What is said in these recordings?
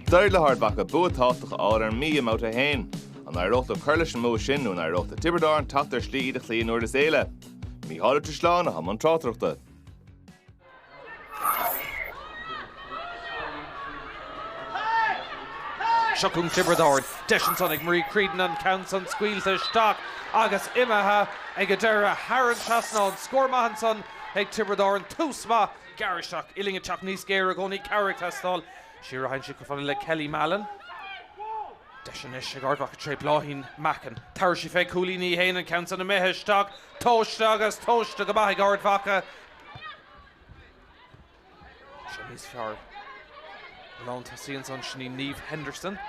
D'éirigh le hArd Mhacha bua tábhachtach a fháil ar an Mí i mBabhta 1. An éireoidh leo cur leis an mbua sin nó an éireoidh le Tiobraid Árann teacht ar shlí iad a chloí i nDurlas Éile? Mícheál Ó Drisleáin, atá i mbun tráchtaireachta. Seo chugainn Tiobraid Árann. Deis ansan ag Marie Creedon an ceann san scaoilte isteach agus imithe ag an deireadh thar an trasnán. Scór maith ansan ag Tiobraid Árann. Tús maith gearr isteach. Uillinn ag teacht níos géire i gcónaí. Cabhair ag teastáil. Siar a thagann siad chomh fada le Kelly Mallon. Deis anois ag Ard Mhacha tré Bláithín Mackin. Tabharfaidh sí fé cúilín í fhéin an ceann san imithe isteach. Tomhaiste agus tomhaiste go maith ag Ard Mhacha. Seo níos fearr. Lántosaí ansan, sin í Niamh Henderson.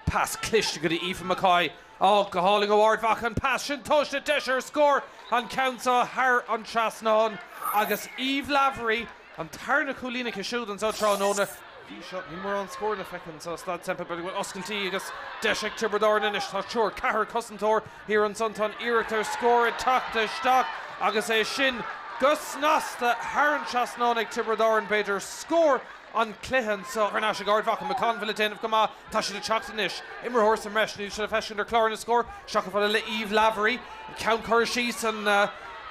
Pas cliste go dtí Aoife McCoy. Á, go hálainn ó Ard Mhacha an pas sin tomhaiste, deis ar scór, an ceann seo thar an trasnán. Agus Eve Lavery, an tarna cúilín aici siúd anso tráthnóna. Bhí seo, níl mórán scóranna feicthe anso i Staid Semple, b'fhéidir go bhfuil oscailtí agus deis ag Tiobraid Árann anois. Tá triúr, ceathrar cosantóir Thiar ansan tá an iarracht ar scór ag teacht isteach agus é sin go snasta thar an trasnán ag Tiobraid Árann, b'fhéidir scór an chluiche anso. Thar n-ais ag Ard Mhacha, McConville ag déanamh go maith, tá siad ag teacht anois. Imreoir sa mbreis níl sé le feiscint ar chlár na scór, isteach chomh fada le Eve Lavery. Ceann curtha síos, an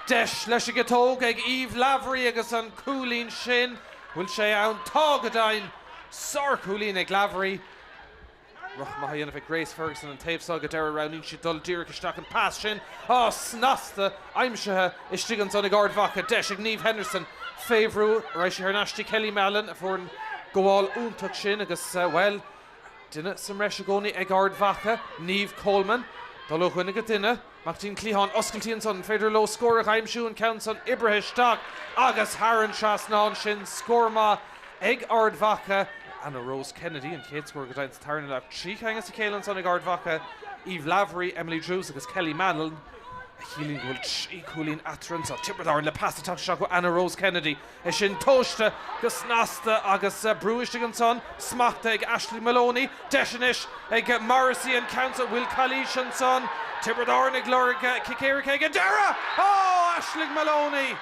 deis leis an gciotóg ag Eve Lavery agus an cúilín sin, bhfuil sé ann? Tá go deimhin! Sárchúilín ag Lavery. Rith maith á dhéanamh ag Grace Ferguson an taobh seo ag an deireadh, roghnaíonn sí dul díreach isteach an pas sin, á, snasta aimsithe istigh ansan ag Ard Mhacha, deis ag Niamh Henderson fé bhrú, raghaidh sé thar n-ais go dtí Kelly Mallon a fuair an gabháil iontach sin agus, bhuel, duine sa mbreis i gcónaí ag Ard Mhacha, Niamh Coleman, dul ó dhuine go duine. Amach go dtí an cliathán oscailtí ansan féidir leo scór a dh'aimsiú, an ceann san oibrithe isteach agus thar an trasnán sin. Scór maith ag Ard Mhacha. Anna Rose Kennedy an chéad scór go deimhin sa tarna leath. Trí cheann as a chéile ansan ag Ard Mhacha, Eve Lavery, Emily Druse agus Kelly Mallon, a chiallaíonn go bhfuil trí cúilín eatarthu ansan. Tiobraid Árann le pas ag teacht isteach ó Anna Rose Kennedy. É sin tomhaiste go snasta agus brú istigh ansan, smachta ag Aishling Moloney, deis anois ag Morrissey an ceann seo, bhfuil calaois ansan, Tiobraid Árann ag lorg cic éirice ag an deireadh! Ó! Aishling Moloney!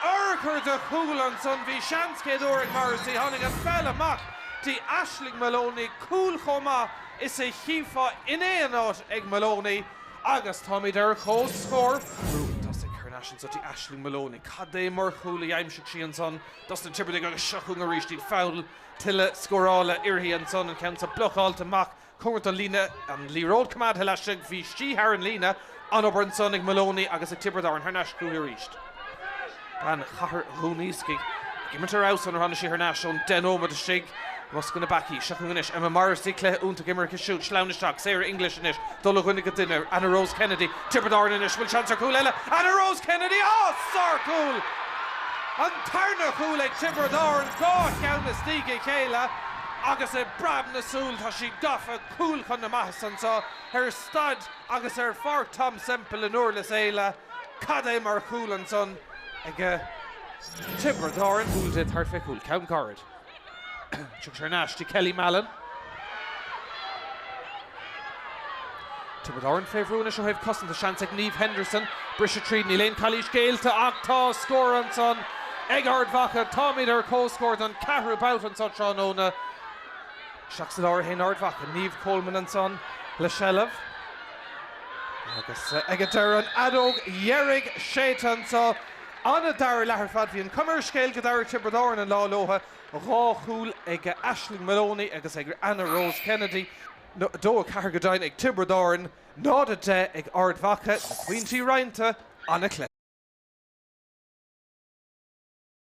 Urchar de chúl ansan, bhí seans céad uair ag Morrissey, tháinig an pheil amach di, Aishling Moloney cúl chomh maith is a chífeá in aon áit ag Moloney. Agus táimid ar comhscór. Brú tosaigh thar n-ais anso go dtí Aishling Moloney. Cad é mar chúl a d'aimsigh sí ansan dos na Tiobradaigh agus seo chugainn arís iad. Fonn tuilleadh scórála uirthi ansan. An ceann seo blocáilte amach cóngarach don líne. An liathróid coimeádtha laistigh. Bhí sí thar an líne. An-obair ansan ag Moloney agus ag Tiobraid Árann. Thar n-ais chúithi arís. bean chathair Dhún Iascaigh ag imirt ar fheabhas ón uair a tháinig sí thar n-ais ón deich nóiméad istigh i mbosca na bpeacaí, seachain anois Emma Morrissey, cluiche iontach á imirt aici siúd, sleamhain isteach Sarah English anois, dul ó dhuine go duine Anna Rose Kennedy, Tiobraid Árann anois, bhfuil seans ar chúl eile? Anna Rose Kennedy, á! sárchúl! An tarna chúl ag Tiobraid Árann, dhá cheann as diaidh a chéile agus i bpreab na súl tá siad gafa, cúl chun na maitheasa anseo ar Staid agus ar Pháirc Tom Semple i nDúrlas Éile. Cad é mar chúl ansan ag Tiobraid Árann. Cúl déanta thart fé chúl ceann gairid. Tugadh sé thar n-ais do Kelly Mallon. Tiobraid Árann fé bhrú anois ó thaobh cosanta, seans ag Niamh Henderson briseadh tríd, níl aon cailís géillte ach tá scór ansan ag Ard Mhacha. Táimid ar comhscór don cheathrú babhta anseo tráthnóna. Isteach sa lár a théann Ard Mhacha, Niamh Coleman ansan le seilbh. Agus ag an deireadh, an fheadóg dheiridh séidte anseo. An-dara leath ar fad. Bhí an chuma ar an scéal go dtabharfadh Tiobraid Árann an lá leo, dhá chúl ag Aisling Moloney agus ag Anna Rose Kennedy, 2-4 go deimhin ag Tiobraid Árann, 0-10 ag Ard Mhacha, na pointí roinnte, an-chluiche.